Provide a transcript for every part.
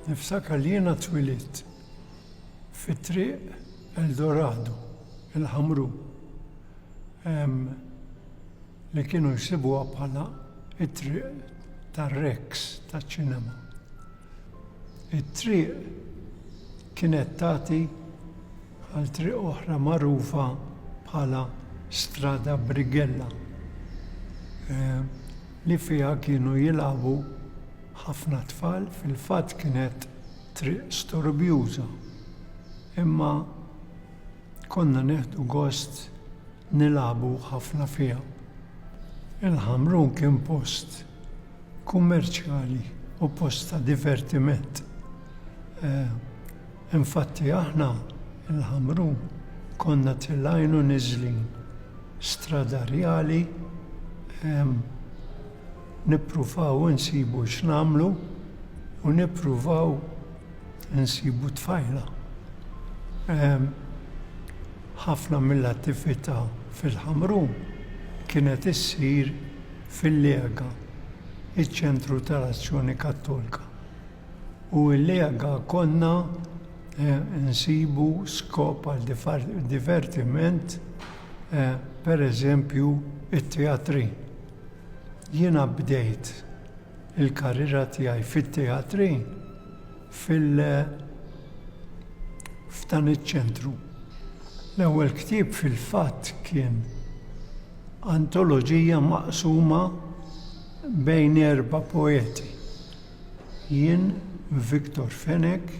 Niftakar li jiena twilit fit-triq Eldorado, il-ħamru, li kienu jsibuha bħala it-triq tar-Rex taċ-ċinema. It-triq kienet tagħti għal triq oħra magħrufa bħala Strada Brighella li fiha kienu jilagħbu ħafna tfal, fil-fatt kienet triq storbjuża imma konna nieħdu gost nilagħbu ħafna fiha. Il-Ħamrun kien post kummerċjali u post ta' divertiment. Infatti aħna, il-Ħamrun, konna tilgħin u niżlin stradarjali nippruvaw insibu x'nagħmlu u nippruvaw insibu tfajla. Ħafna mill-attività fil-Ħamrun kienet issir fil-Leaga, iċ-ċentru tal-Azzjoni Kattolka. U l-Leaga konna nsibu skop għal divertiment, per eżempju, it-teatrin. Jiena bdejt il-karriera tiegħi fit-teatrin fil-, f'dan iċ-ċentru. L-ewwel ktieb fil-fatt kien. Antoloġija maqsuma bejn erba' poeti, jien, Victor Fenech,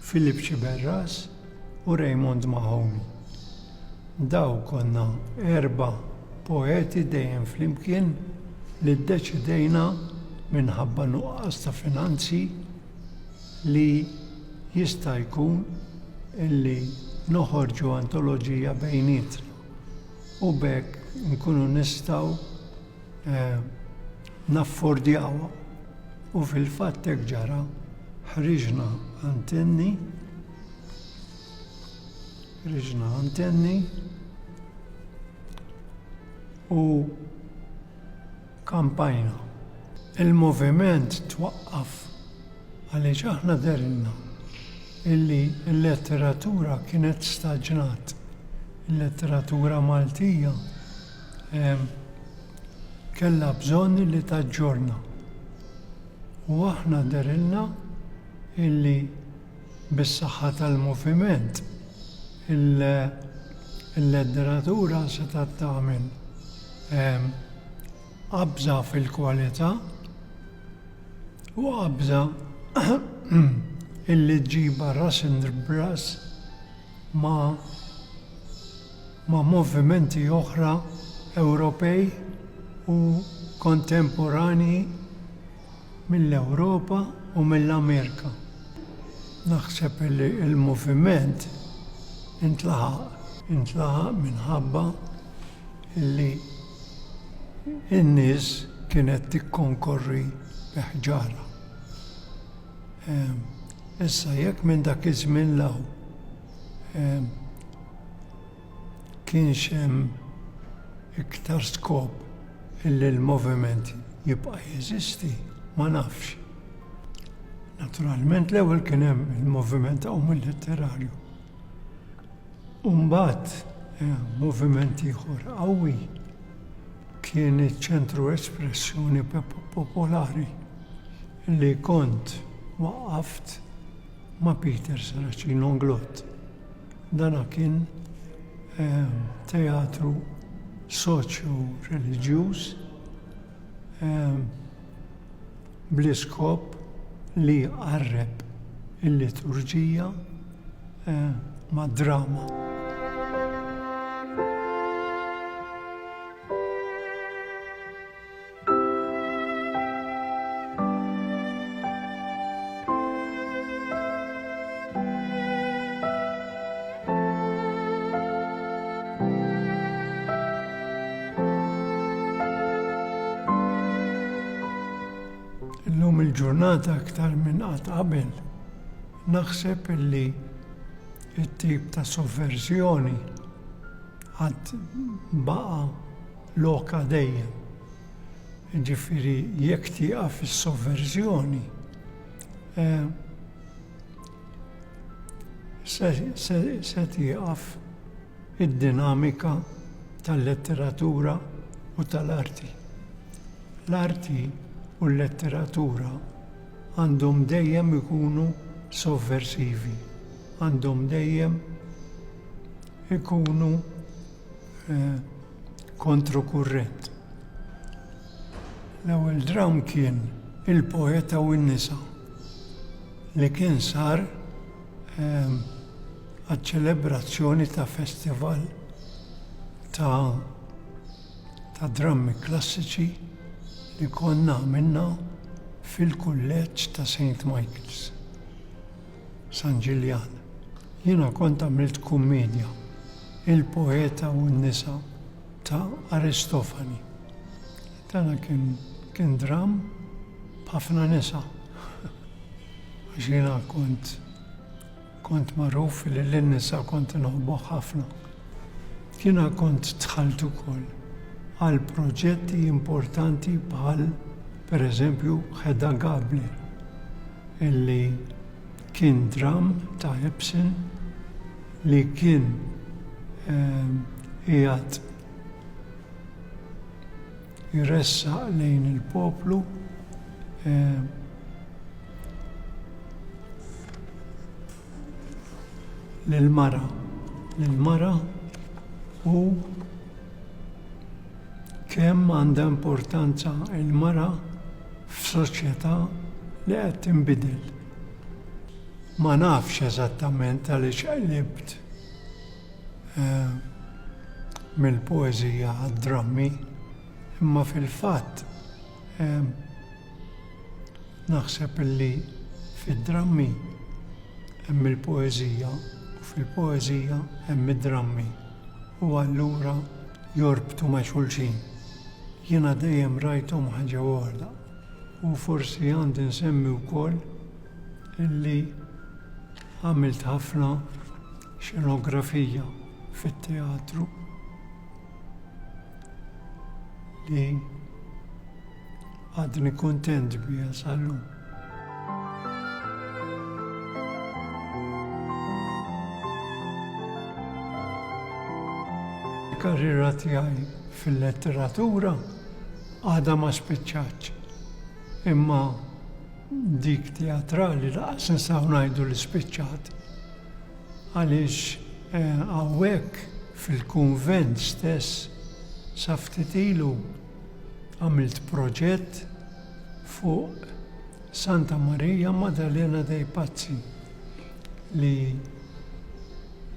Philip Sciberras u Raymond Mahoney. Dawn konna erba' poeti dejjem flimkien li ddeċidejna minħabba nuqqas ta' finanzi, li jista' jkun illi noħorġu antoloġija bejnietna u b'hekk inkunu nistgħu naffordjawha u fil-fatt hekk ġara, ħriġna antenni, ħriġna antenni u, Kampajna. Il-moviment twaqqaf għaliex aħna dehrilna illi l-letteratura kienet staġnat. Il-letteratura Maltija kellha bżonn illi taġġorna. U aħna dehrilna illi Bis-saħħa tal-moviment, il-ledderatura setgħet tagħmel qabża fil-kwalità u qabża illi ġġibha ras b'ras ma' movimenti oħra Ewropej u kontemporanji. mill-Ewropa u mill-Amerika. Naħseb li l-moviment intlaħaq. Intlaħaq minħabba li n-nies kienet tikkonkorri bi ħġarha. Issa jekk minn dak iż-żmien 'l hawn, kienx hemm iktar skop illi l-moviment jibqa' jeżisti, ma nafx. Naturalment l-ewwel kien hemm il-moviment omolietterarju u mbagħad moviment ieħor qawwi kien iċ-ċentru espressjoni popolari li kont waqqaft ma' Peter Saracino Glott. Dana kien teatru soċjo-reliġjuż bl-iskop li jqarreb il-liturġija mad-drama. il-ġurnata aktar minn qatt qabel, naħseb illi it-tip ta' sovverżjoni għad baqa lokha dejjem. Jiġifieri jekk tieqaf is-sovverżjoni, se tieqaf id-dinamika tal-letteratura u tal-arti. L-arti u l-letteratura għandhom dejjem ikunu sovversivi, għandhom dejjem ikunu eh, kontrokurrent. L-ewwel dram kien il-poeta u n-nisa li kien sar eh, għal-ċelebrazzjoni ta' festival ta' ta' drammi klassiċi li konna minna fil-kulleġġ ta' St. Michael's. San Ġiljan. Jiena kont għamilt kummedja, Il-Poeta u n-Nisa ta' Aristofani. Dana kien kien dramm b'ħafna nisa. Għax jiena kont kont magħruf li lin-nisa kont inħobbuh ħafna. Jiena kont dħalt ukoll għal proġetti importanti bħal pereżempju Hedda Gabler illi kien dramm ta' Ibsen li kien qiegħed iressaq lejn il-poplu lill-mara, lill-mara u kemm għandha importanza l-mara f'soċjetà li qed tinbidel. Ma nafx eżattament għaliex qlibt eh, mill-poeżija għad-drammi, imma fil-fatt Naħseb illi fid-drammi hemm il-poeżija u fil-poeżija hemm id-drammi u allura jorbtu ma' xulxin. Jiena dejjem rajthom ħaġa waħda u forsi għandi nsemmi wkoll illi għamilt ħafna xenografija fit-teatru. li għadni kontent bija sallu. Karriera tiegħi fil-letteratura għada ma spiċċaċ. Imma dik teatrali laqas nsaw ngħidu li spiċċat. Għaliex eh, hawnhekk Fil-kunvent stess sa ftit ilu għamilt proġett fuq Santa Marija Maddalena dei Pazzi li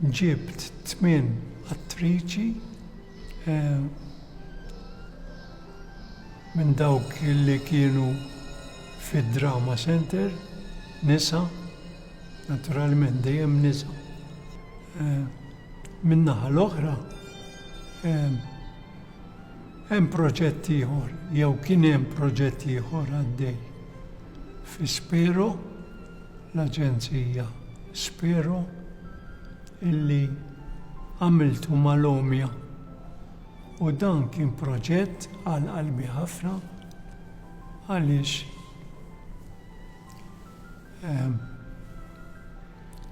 ġibt tmien attriċi minn dawk li kienu fid-Drama Center, nisa, naturalment dejjem nisa. Min-naħa l-oħra, hemm proġett ieħor jew kien hemm proġett ieħor għaddej fi Spero, l-aġenzija Spero, illi għamiltu mal-Omja u dan kien proġett għal qalbi ħafna għaliex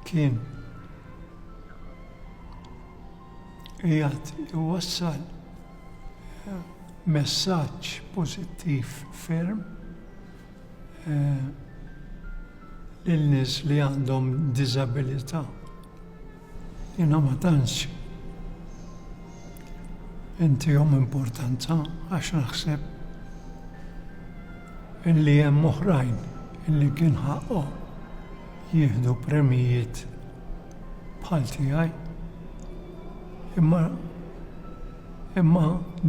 kien qiegħed iwassal messaġġ pożittiv ferm lil nies li għandhom diżabilità. Jiena ma tantx intihom importanza għax naħseb illi hemm oħrajn illi kien ħaqqhom jieħdu premjijiet bħal tiegħi. Imma imma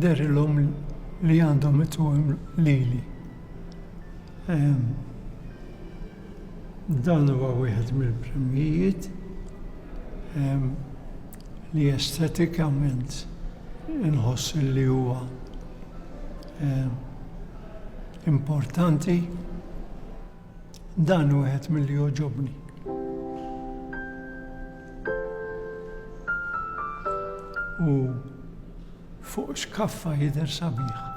dehrilhom li għandhom ituhom lili. Dan huwa wieħed mill-premjijiet li estetikament inħoss li huwa importanti. Dan wieħed milli jogħġobni. U fuq xkaffa jidher sabiħ.